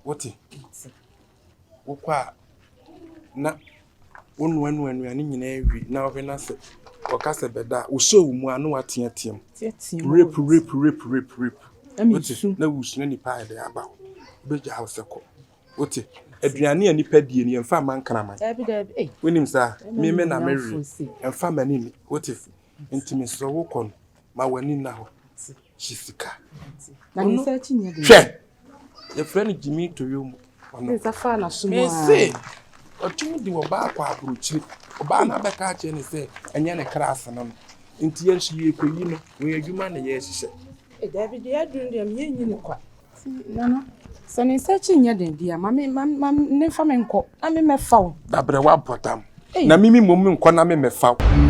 Wote? Wokɔ a, na wonoanoa nnuane nyinaa wie na wohwɛ no sɛ ɔka sɛ bɛda a wohyɛ wo mu a na woateateam rep rep rep rep rep na wusu na nipa ayɛ dɛ aba hɔ wobɛgyaa wo sɛ kɔ wote aduane a nipa die no yɛmfa ma nkraman wonim saa meme na mewe ɛmfa ma nini wote nti mesrɛ wokɔ no ma w'ani nna hɔ hye sika hwɛ Yɛfrɛ no Gyimii Toyomu. Ɔno. Ne nsa faa n'aso mu ara. Mese, ɔtumi de ɔbaa kɔ aburokyire. Ɔbaa no abɛka akyerɛ no sɛ, ɛnyɛ ne kra ase no no. Nti yɛn nso yɛrekɔyi no. Wɔn adwuma na yɛrehyehyɛ. E, daabi, deɛ aduru deɛ me yɛnyi no kwa. Nti, Nana, sɛ ne nsa akyi nyɛ den deɛ a, ma me, ma, ma ne mfa me nkɔ na me mmɛfa wo. Dabrɛ wabɔ dam. Ei. Na me me mmom nkɔ na me mmɛfa wo.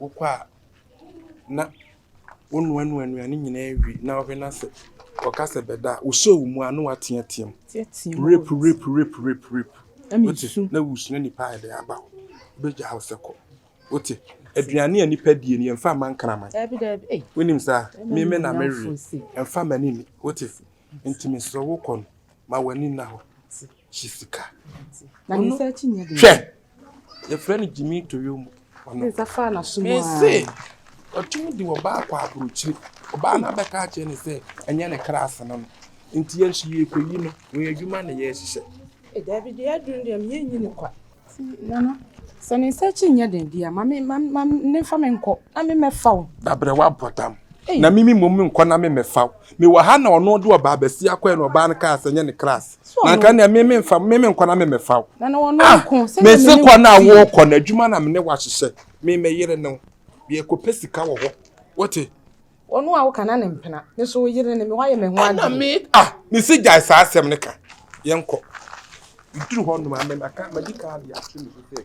wokɔ a na wonoanoa nnuane nyinaa wie na wohwɛ na sɛ wɔka sɛ bɛda a wosɔ wo mu a na woateateam rape rape rape rape rape wote na wusua nipa a ɛde aba hɔ wobɛgya wo sɛ kɔ wote aduane a nipa die no yɛmfa ma nkraman wonim saa meme na mewe ɛmfa m'ani ni wote nti mesrɛ wokɔ no ma w'ani nna hɔ hye sika hwɛ yɛfrɛ no Gyimii Toyoo mu hɔ no, mese ɔtumi de ɔbaa kɔ aburokyire, ɔbaa no abɛka akyerɛ no sɛ ɛnyɛ ne kras no no, nti yɛn nso yɛrekɔyi no, wɔn adwuma na yɛrehyehyɛ. E daabi deɛ aduru deɛ meyɛ nyi no kwa. Nana, sɛ ne nsa akyi nyɛ den deɛ, ma me ma ma ne fa me nkɔ na me mɛfa wo. Dabrɛ wabɔdam. Na mimi mmom me nkɔ na me mɛfa wo. Mewɔ ha na ɔno de ɔbaa bɛsi akɔɛ na ɔbaa no kaa sɛ nyɛ ne kras. na nka nea me me nfa me me nkɔ na me me fa o ah me se kɔ na wo kɔ na adwuma na me ne wahyehyɛ me me yere ne wo yɛ kɔ pɛ sika wɔ hɔ wote ɔno a woka na ne mpena me so wo yere ne me wayɛ me ho ade na me ah me se gyae saa asɛm ne ka yɛn kɔ duru hɔ nom a me na ka ma di ka de ato me so sɛ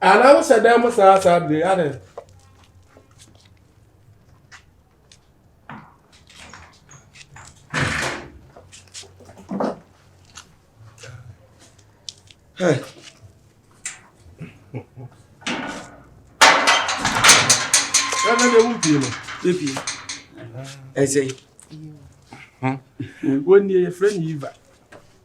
Ana wohyɛ dan mu saa saa bere ade. Hey. Ɛna de wo pie no. Ebi. Ɛsɛ. Wɔn ni yɛ fɛ ni yiva.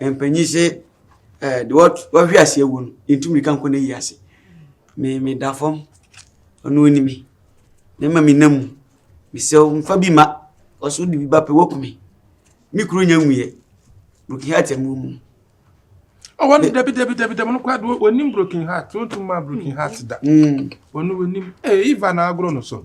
mpanyin sɛ ɛɛ eh, de wahwe ase awu no yɛntu mirika nkɔ no ayi ase me meda fam ɔno onim na ma me nam mu mesɛ mfa bi ma ɔso de bi ba pɛ wakumi me kuro nya nwuiɛ broken heart amu mu ɔwɔ no dabi dabi dabi dabi no kora de onim broken heart wontum ma broken heart da ɔno onim ee iva na agorɔ no so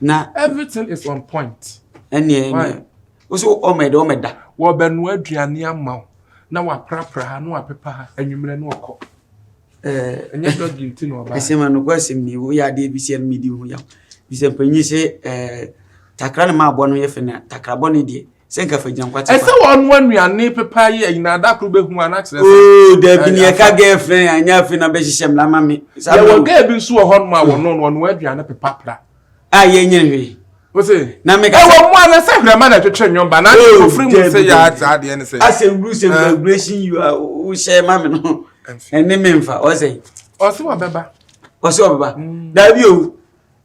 Na. Everything is on point. Ɛneɛ ɛneɛ. Why? Wosi ɔmɛ de ɔmɛ da. Wɔbɛnoa aduane ama wo na waprapra ha na wapepa ha anwummerɛ na ɔkɔ. Ɛɛ. Ɛnyɛ dɔgi nti na ɔbaa. Ɛsɛm ɛno kɔ ɛsɛm ni woyɛ adeɛ bi sɛ ɛno medi ho yaw bisɛ mpanyin sɛ ɛɛ takra ne maa bɔ no yɛ fɛ na takra bɔ ne deɛ. Sɛ nka fa gyankwate pa. Ɛsɛ wɔn anuane pepa yi ɛyina ada koro bɛ hu ana kyerɛ sɛ. Oo dabi ni ɛka gɛɛ fɛn yɛn anya afei na bɛ hyehyɛ mla ma mi. Yɛ wɔ gɛɛ bi nso wɔ hɔ nom a wɔn no wɔn aduane pepa pra. A yɛ nyɛ hwɛ. O se. Na mi ka sɛ. Ɛwɔ mu a na sɛ hwɛma na ɛtwetwe nyɔn ba na ne ko firi mu sɛ yɛ ati adeɛ ne sɛ. Asɛ wuru sɛ vibration yi a o hyɛ ma mi no ɛne mi nfa ɔsɛ. Ɔsɛ wɔ bɛba. Ɔsɛ wɔ bɛba. Dabi o.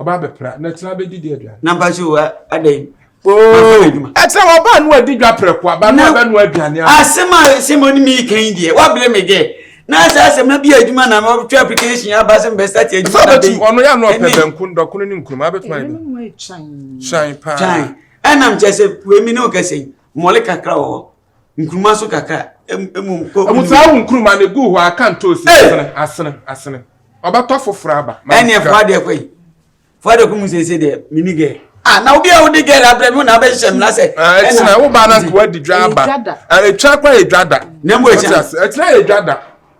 ɔba abɛpra na ɛtena bɛdi di aduane. na mpa so adɛn oh, ɛtena wɔba ano adi dwa prɛko aba no abɛno aduane a asɛm a sɛ mo ne meka yi deɛ woabrɛ me dɛ na sɛ asɛm no bi adwuma na mɛtwe application aba sɛ mebɛstate adwuma da bɛyi ɔno yɛ ano ɔpɛ banku ndɔkono ne nkuruma abɛtuma yɛ dɛ kyan paa ɛnam kyɛ sɛ wei me ne wokɛsɛ yi mmɔle kakra wɔ hɔ nkuruma nso kakra emu nkɔ. ɛmu saa wo nkuruma ne gu hɔ aka ntoosi asene asene asene ɔbɛtɔ foforɔ aba. ɛne ɛfo adeɛ kɔ yi fo adeɛ kɔ mu sese deɛ mini gɛɛ. ah na obi a wodi gɛɛ la abirɛ mi na abɛ hyɛ mu na sɛ. ɛtina wo ba na nkewa di dwa aba ɛtwa kɔ yɛ dwa da. na mu ɛkyɛn ɛtina yɛ dwa da.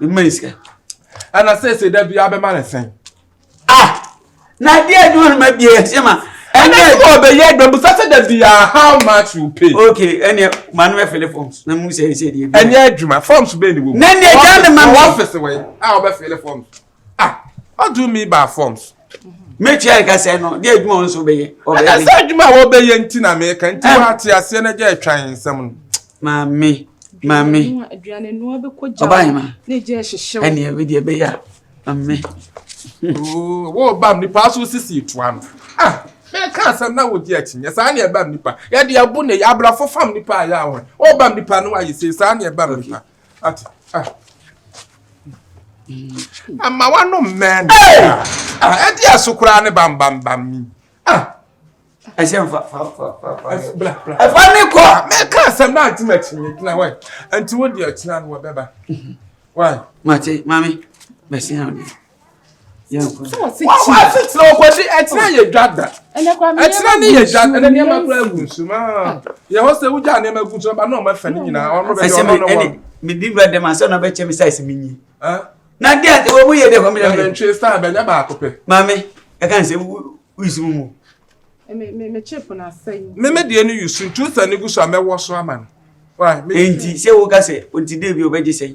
Mma yi sika. Ɛna sese da bi abɛma ne sɛn. Ah! Na adi adwuma no ma bi ɛhyɛ ma. Ɛna ɛdi wɔ bɛyɛ adwuma bu sase da bi ah how much you pay. Okay, ɛna maa no bɛ fili forms na mu sɛ ɛsɛ deɛ bi. Ɛnyɛ adwuma forms bɛyɛ ne wɔ mu. Na ne gya ne ma mi. Wɔ ɔfisi wɔ yi a ɔbɛ fili forms. Ah! What do you mean by forms? mɛtua nka sɛ no deɛ adwuma wo nso bɛyɛ ɛsɛ adwuma a wɔbɛyɛ nti na meka nti woate aseɛ no agya atwa yɛ nsɛm no maame maame ɔbahema ɛneɛ bɛdeɛ bɛyɛ a maame wɔbam nipa so sisi toa no ah mɛka asɛm na wogye akyinyɛ saa ne ɛbam nipa yɛde abo ne abrafo fam nipa a yɛ ahɔ wɔbam nipa no ayɛ sei saa ne ɛbam nipa ate ah ama wano mmɛn ah ɛdi aso koraa ne bambambam ni ah ɛhyɛ nfa fa fa fa fa bla bla ɛfa ne kɔ ah, mɛka asɛm na ati ma kyinye gyina wɛ nti wo deɛ ɔkyina no wɔbɛba wai mate maame mɛsi ha wɔn asetena ɔkɔgye ɛtena yɛ dwa da ɛtena ne yɛ dwa ɛna nneɛma kura egu nsu mu aa yɛ hɔ sɛ wogya nneɛma egu nsu ba na wɔn afɛ ne nyinaa wɔn bɛ yɛ ɔno no wɔn. mi di wura dɛm asɛ ɔna bɛ kyɛ mi sa esi mi nyi. na di ati wɔn mu yɛ dɛ wɔn mi yɛ mi. ɛna ntwi star bɛ nyɛ baako pɛ. maame ɛka n sɛ wuyi mu mu. mímí deɛ ni yusu ntu sɛ ne gu so a mɛwɔ so ama no. nti sɛ wo ka sɛ nti dɛ bi o bɛ gye sɛ.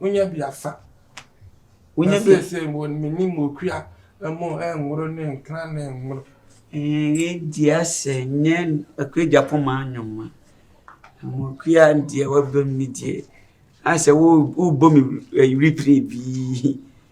wonya bi afa. Wonya bi afa. Sɛ wɔn mini mu okua ɛmo ɛnworo ne nkran ne ɛnworo. Ɛɛ di asɛ nyɛ akwagya poma anwoma. Ɛmo okua deɛ wabam ne deɛ asɛ wo wobɔ mi ɛyiri pere bii.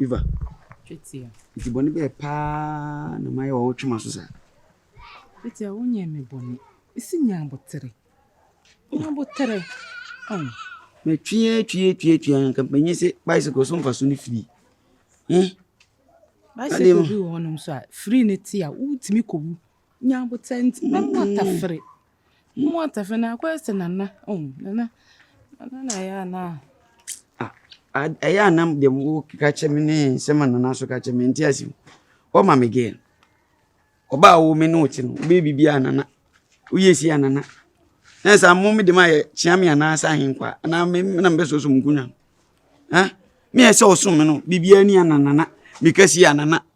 Eva. Twetia. Nti bɔne bɛɛ paa na mayɛ wɔ wo twema so saa? Twetia, wonyɛɛ me bɔne. Esi nya abotere. Nya abotere. Oh. Me twie twie twie twie anka mpanyin se bicycle so mfa so ne free. Eh? Bicycle bi wɔ hɔnom so a free ne te a wotumi kɔ wu. Nya aboterɛ nti na mo atafere. Mo atafere na akɔyɛ sɛ nana. Oh, nana. Nana na ɛyɛ ana. Ah, ɛyɛ ana deɛ mo ka kyɛ me ne sɛ ma nana so ka kyɛ me nti asi. What ma me girl? Ɔbaa wo me ne wo te no, wobɛyɛ biribi a nana. Woyɛ si a nana. Na saa mo me de ma yɛ kyea me anaa sɛ ahenkwa anaa me na mbɛ so so mo kunya. Ha? Me yɛ sɛ ɔsom me no, biribi ani a nana. Me ka si a nana.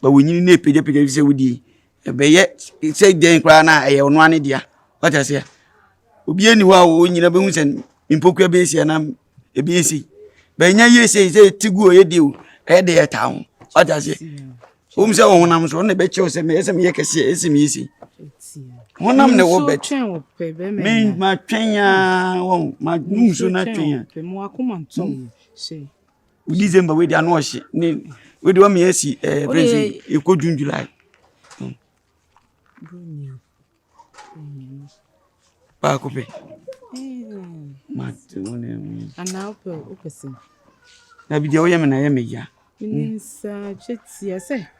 Ma wo nyini no ɛpagyapagya ɛfiri sɛ wodie. Ɛbɛyɛ sɛ dan koraa no a ɛyɛ ɔno ara ne dea. Wate aseɛ? Obiara nni hɔ a wɔn nyinaa bɛhu sɛ me mpokua bɛyɛ sei anaa ɛbɛyɛ sei. But ɛnyɛ yie sei sɛ ɛte gu o ɛyɛ den o ɛyɛ dɛ ɛtaa ho. Wate aseɛ? Ɛwɔ mu sɛ ɔhonam so ɔno na ɛbɛkyerɛ wo sɛ ɛyɛ sɛ meyɛ kɛseɛ ɛyɛ sɛ meyɛ sei. Honam na ɛwɔ bɛt. Me matwɛn ara wɔn ma nsuo no atwɛn a. December wei deɛ ano ɔhye ne wei deɛ wɔn yɛsi ɛɛ eh, fɛn si ekɔ June July. Hmm. Baako pɛ. Mate wɔn ɛmu. Anaa wopɛ wopɛ sɛm. Na bi deɛ wɔyɛ mi na ɛyɛ mi ya. Minsa twɛ tia sɛ.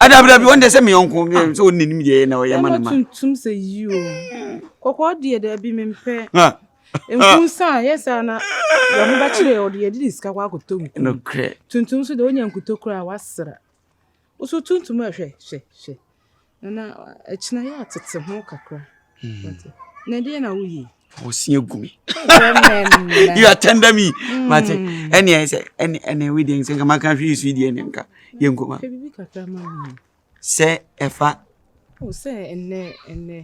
Ada bra bi wɔn deɛ sɛ mi yɔnko bi sɛ wɔn n'anim deɛ na ɔyɛ ma ne ma. Ɛna tuntum sɛ yi o. Kɔkɔɔ deɛ dɛ bi mi mpɛ. Nkunsa yɛ saa na yɛn ho bɛkyerɛ ɔde yɛde ne sika kɔ akɔtɔ nkun. Nokorɛ. Tuntum so deɛ onya nkuto koraa wasra. Woso tuntum a hwɛ hwɛ hwɛ. Nana ɛkyina yɛ atete ho kakra. Hmm. Na deɛ na woyɛ. ɔsia gu me you are tender me hmm. mate ɛne ɛyɛ sɛ ɛne ɛne we deɛ sɛ nka maka hwɛ yesu yi deɛ ne nka yɛnkɔma sɛ ɛfa sɛ ɛnɛ ɛnɛ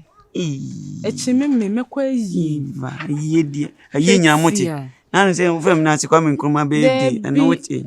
ɛkyi me me mɛkɔ ayi ayie deɛ ayie nyaa mo te nanu sɛ wofɛ mu nase kwame nkrumah bɛɛ de ɛno wote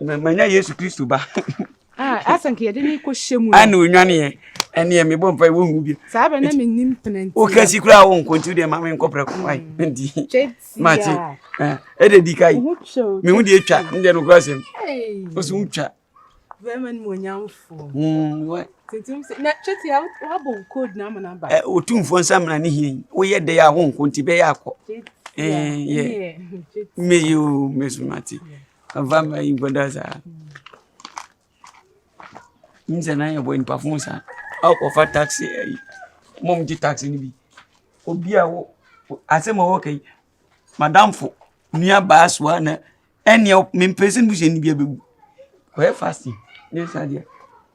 Manya Yesu Kristo ba. Ah, asa nka yɛde ne kɔ hyɛ mu. Ana onwane yɛ. Ɛne yɛ mebɔ mpa wo nhu bi. Saa bɛ na menim penanti. Wo kasi kura wo nko nti de ma me nkɔ prɛko ai. Ndi. Mate. Eh, ɛde di kai. Me hu de atwa, nde no kura sem. Wo so utwa. Bɛma no onyamfo. Mm, why? Tintim se na chete ya wa bo code na amana ba. Eh, otumfo nsa mena ne hie. Wo ye de ya wo nko nti bɛ ya akɔ. Eh, yeah. Me you, me so mate. Ɔmfa mma yi nkɔda saa. Nim sɛ na yɛ bɔ nipa fon saa. Aw kɔfa taxi ayi. Mo mo gye taxi no bi. Obi a wo asɛm a wɔka yi. Madamfo nua baa soa na ɛnneɛ mempɛ sɛ mebusua ni bi abɛwu. Kɔyɛ fasting ne saa deɛ.